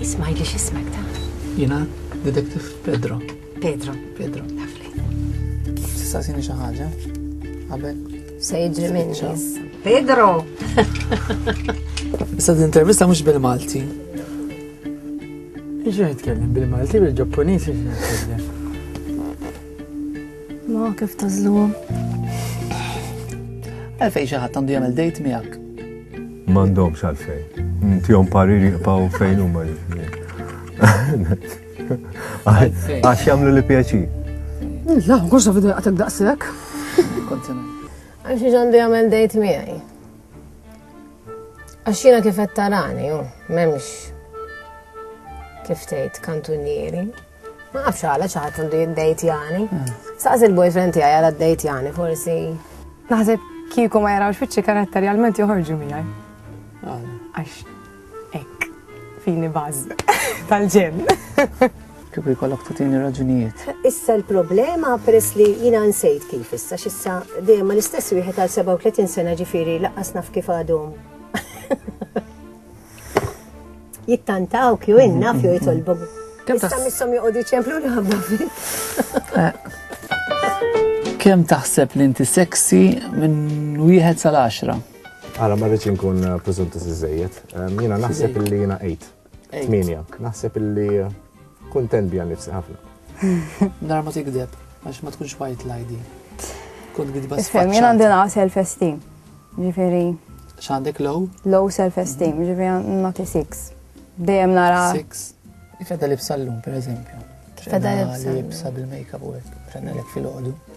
Isma' jgħidli x'ismek ta? Jiena Detective Pedro. Pedro. Pedro. Lovely. Tista' sini xi ħaġa? Qabel. Se jiġri minn Pedro! Issa din intervista mhux bil-Malti. Iġu nitkellem bil-Malti bil-Ġappuniż iġu nitkellem. Ma kif tażluhom. Għalfejn xi ħadd għandu jagħmel dejt miegħek. M'għandhomx għalfejn. Ntihom pariri jibqgħu fejn huma jiġri. Għax jagħmlu li pjaċi. La, għoxa vidu jaqtek daqsek. Għax ġandi għamel dejt miegħi. Għax jiena kif qed tarani, memx kif tgħid kantunieri. Ma nafx għala xi ħadd għandu jiddejtjani. Saqs il-boyfriend tiegħi għala ddejtjani forsi. Naħseb kieku ma jarawx fiċċi karattar realment joħorġu miegħi. Għax hekk fini baż tal-ġen. Kieku jkollok tutini raġunijiet. Issa l-problema peress li jina nsejt kif issa x'issa dejjem l-istess wieħed għal 37 sena ġifieri laqqas naf kif għadhom. Jittantaw kju inna fju jitolbu. Issa missom joqogħdu ċemplu li ħabba Kem taħseb li inti seksi minn wieħed sal-10? Għala ma rridx inkun eh, preżunti iżejjed. Jiena naħseb li jiena 8. 8. Naħseb li Kuntent bija nifsi ħafna. Nar ma tikdeb, għax ma tkunx white l-ID. Kont gidba s Fem, jena għandina self-esteem. Ġifiri. Xandek low? Low self-esteem, mhm. ġifiri nati 6. Dejjem nara. 6. Kif għadda libsa l-lum, per eżempju. Kif għadda libsa bil-makeup u għek. Frenna l-ek fil-ħodu.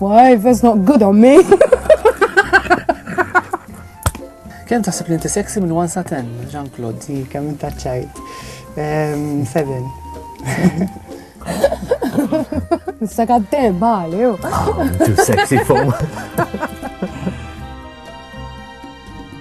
Why, that's not good on me. Kem taħseb li inti sexy minn 1 sa 10, Jean-Claude? Sì, kem inta ċajt. 7. Issa għaddem, bali, ju. Too sexy for